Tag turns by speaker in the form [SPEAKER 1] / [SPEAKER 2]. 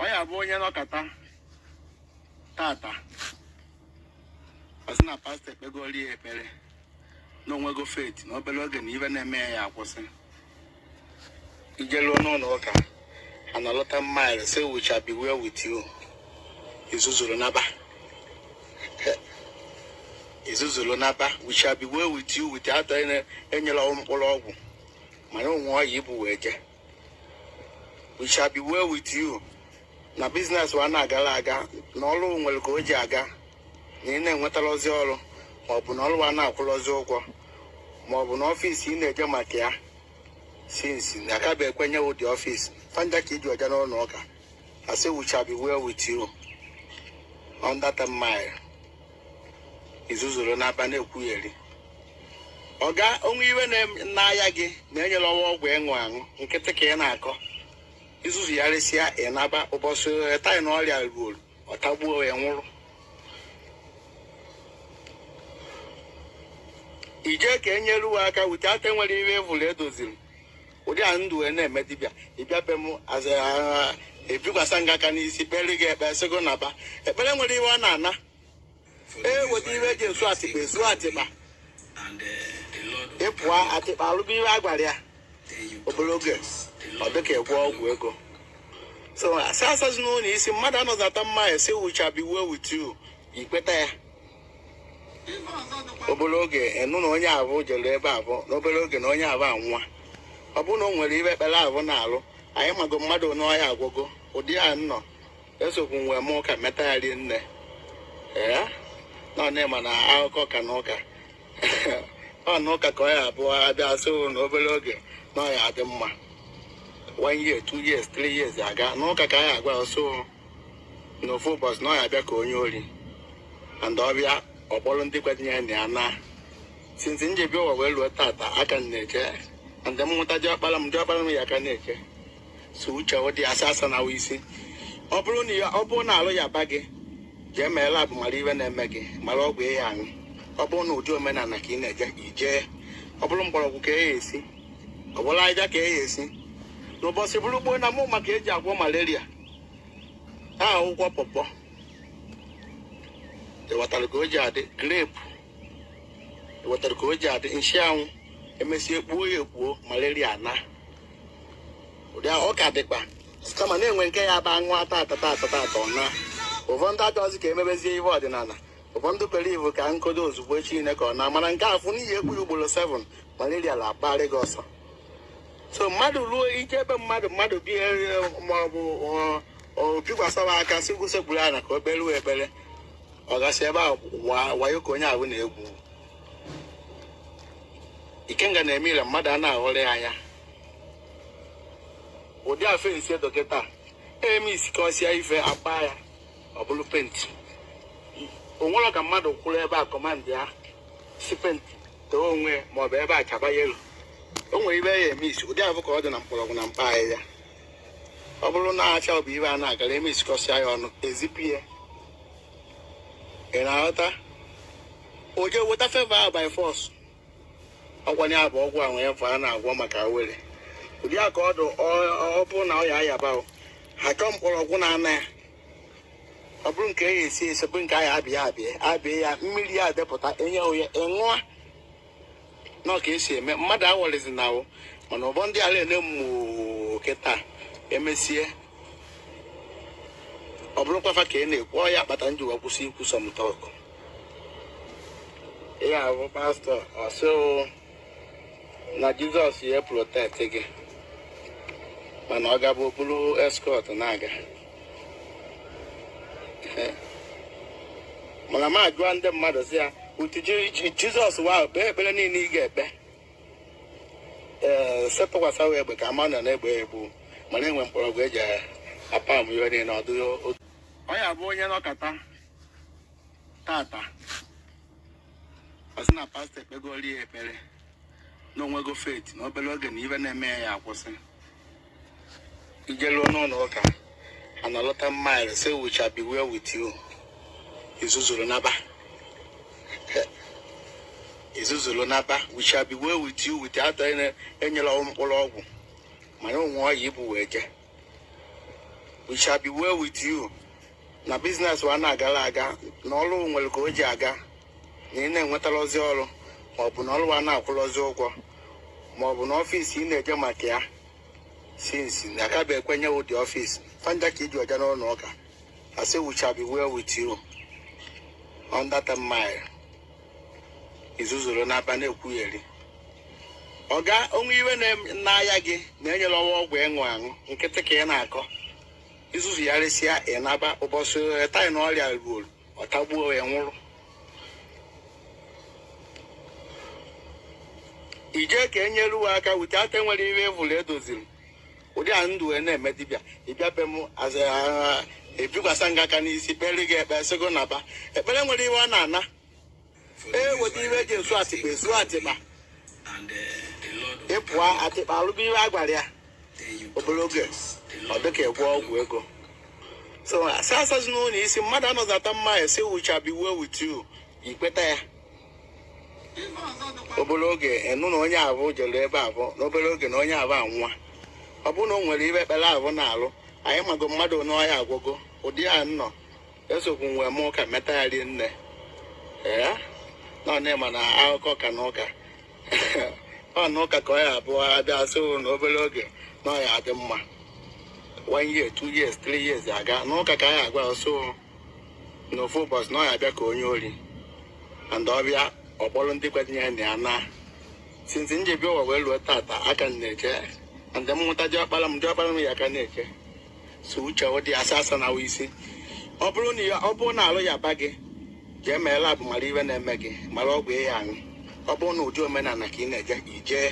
[SPEAKER 1] ọ ya bụ onye nọkata tata ọ sị na pastọ ekpegoli ya ekpere na o nwego faith na obere oge na iwe na-eme ya ya-akwụsị i jeruo n'ụlọ ụka analọta mile sị we shall be well with you i zuzuru naba i zuzuru naba we shall be well with you without enyere mkpụrụ ọgwụ mana o nwe ọya i bu wee jee we shall be well with you na business wa na-agara aga na ọrụ nwere ka o ji aga na ị na-enwetarọzi ọrụ ma ọ bụ na ọrụ wa na-akwụrọzi ụgwọ ma ọ bụ na ọfịs ị na-eje maka ya since na aka bụ ekwenye wụ dị ọfịs fanja ka iji ọja n'ụlọ ụka a sị we shall be well with you on that mile i zuzuru naba na-ekwugheri ọga o nwe iwe na-aya gị na enyere wa ọgwụ ịṅụ aṅụ nkịtị ka ị na-akọ i zuzuyarisịa ị naba ụbọchị taị na ọrịa ruoro ọ tagbuo ya nwụrụ i je ka enyere uwe aka wute ata nwere iwe evụrụ edoziri ụdị a ndụ wee na-eme dibịa ị bịa be m aza ebikwasa ngị aka n'isi kpere gị ekpe sị gị naba ekpere nwere iwe ọ na-ana ee weta iwe eji esu atịkpa esu atịkpa ị pụọ atịkpa alụgo iwe a gwara ya obere oge ọ dịka egwu ọgwụ ego so asị asazi n'ụlọ isi mmadụ anọzi ata mma esi we shall be well with you i kweta ya obere oge ị nụ na onye afụ jere ebe afụ n'obere oge na onye afụ anwụa ọ bụrụ na o nwere iwe ekpere afụ na-alụ anyị mago mmadụ onye ọya agwụgo ụdị a nọ esokwu nwe m ụka meta ya rie nne ee na ọ na-ema na akụkọ ka na ụka ọ na ụka ka ọ ya-abụ ọ bịa asị unu na obere oge na ọ ya-adị mma one year two years three years aga n'ụka ka anyị agwa ọsọ n'ofu ụbọchị na ọ ya-abịa ka onye ori and ọ bịa ọ kpọrọ ndị kwetinye ya na ya na since m ji bịa ụwa wee ruo tata aka m na-eche and m nwụta diọkpara m diọkpara m ya aka na-eche so uche ọ dị asa asa na isi ọ bụrụ na ya- ọ bụrụ na alụ yaba gị jee mee lab mara iwe na-eme gị mara ọgwụ ị ya-aṅụ ọ bụrụ na ụdị omenala ka ị na-eje i jee ọ bụrụ mgbọrọgwụ ka eya esi ọ bụrụ aja ka eya esi n'ụbọchị bụrụ gboo na mụ ma ka eji agwọ malaria a akwụkwọ pọpọ ewetara ka o ji adị grape ewetara ka o ji adị nchịanwụ e mesịa e kpuo ya ekpuo malaria na ụdị ahụ ọ ka dịkwa kama na-enwe nke ya bụ aṅụ ata atata atata atọ na ụfọdụ achọghịzị ka emebezie ihe ọdịnala ụfọdụ kwere iwe ka nkodo ozugbo Chineke ọ na-amara nke afụ n'ihi ekpu ya ugboro 7 malaria na-akpagharị gị ọsọ so mmadụ ruo ije ebe mmadụ mmadụ bi ma ọ bụ o bikwasara aka sị gbusekpuru ala ka o kperuo ekpere ọ ga-asị ebe a wayo ka onye ahụ na-egwu ikenga na-eme ire mmadụ a na-aghọrọ ya anya ụdị a fensi dọkịta eme isi ka ọ sịa ife akpa ya ọ bụrụ penti o nwere ka mmadụ kwụrụ ebe a kọmandị ya sị penti too onwe maọbụ ebe a chaba yelo o nwere ihe ya eme isi ụdị afụ ka ọ dị na mkpọrọgwụ na mkpa ahịhịa ọ bụrụ na acha ọ bụ ihe a na-agara eme isi ka ọ sịa ya ọnụ ezipụ ya ị na-aghọta o jee weta feva by force ọ kwanụ abụ ọgwụ a nwere ihe ọ na-agwọ maka were ụdị a ka ọ dụ ọ- ọ bụrụ na ọ ya ayaba o, ha chọọ mkpọrọgwụ na-ana ya ọ bụrụ nke ya esi esi bụrụ nke a ya abịa abịa abịa ya mmiri ya adepụta enye onye ọ ṅụa na ọ ka e si eme mmadụ awọrịzi na ahụ mana ụbọ ndị ala ele mmụọ kịta emesie ọ bụrụkwa fa ka ị na-ekwu ọ ya kpata m ji wa kwụsị ikwu some talk ya bụ pastọ ọ sị na jizọs ya protect gị mana ọ ga-abụ o buru eskọt na-aga mana m ajụọ ndị mmadụ sị ya utu jizọs wa kpee ekpere niile ị ga-ekpe ee eh, sepụkwasa wee egbe ka ama nọ na-egbe egbu mana enwe mkpọrọgwụ eji apa m ihe niile ọ dịghị ọ ya bụ onye nọkata tata ọ sị na pastọ ekpegoro ya ekpere na o nwego faith na obere oge na ihe na-eme ya ya akwụsị i jeruo n'ụlọ ụka ana lọta mile say we shall be well with you i zuzuru naba i zuzuru naba we shall be well with you without any- enyela ọgwụ mkpụrụ ọgwụ mana o nwe ọya i bu wee jee we shall be well with you na biznes wa na-agala aga na ọrụ nwere ka o ji aga na ị na-enwetarọzi ọrụ maọbụ na ọrụ wa na-akwụrọzi ụgwọ maọbụ na ọfịs ị na-eje maka ya since na aka bụ ekwenye ụdị ọfịs fa ncha ka i ji eje n'ụlọ ụka a sị we shall be well with you on that mile i zuzuru naba na-ekwugheri ọ kwa o nwe ihe na-aya gị na enyerọ wa ọgwụ ịṅụ aṅụ nkịtị ka ị na-akọ i zuzuyarịsịa ị naba ụbọchị taị na ọrịa ruoro ọ tagbuo ya nwụrụ ije ka enyere uwe aka wute ata nwere ihe evụrụ edoziri ụdị a ndụ wee na-eme dibịa ị bịa be m aza ebikwasa gị aka n'isi kpere gị ekpe sị gị naba ekpere nwere ive ọ na-ana ee weta ive eji esu atịkpa esu atịkpa ị pụọ atịkpa alụba ive a gwara ya obere oge ọ dịka egwu ọgwụ ego so asị asazi n'ụlọ isi mmadụ anọzi ata mma a sị it shall be well with you i kweta ya obere oge ị nụ na onye avụ jere ebe avụ n'obere oge na onye avụ anwụọ ọ bụrụ na o nwere ive ekpere avụ na-alụ anyị mago mmadụ na ọya agwụgo ụdị a nọ esokwu nwe m ụka meta ya rie nne ee na ọ na-ema na akụkọ ka na ụka ọ na ụka ka ọ ya abụọ abịa sị na obere oge na ọ ya adị mma one year two years three years aga n'ụka ka anyị agba ọsọ n'ofu ụbọchị na ọ ya abịa ka onye ori and ọ bịa ọ kpọrọ ndị kwenyere na ya na since m ji bịa ụwa wee ruo tata aka m na-eche and m mụta diọkpara m diọkpara m ya aka na-eche so uche ụdị asa asa na isi ọ bụrụ na ya- ọ bụrụ na arụ yaba gị jee mee lab mara ive na-eme gị mara ọgwụ ị ya aṅụ ọ bụrụ na ụdị omenala ka ị na-eje i jee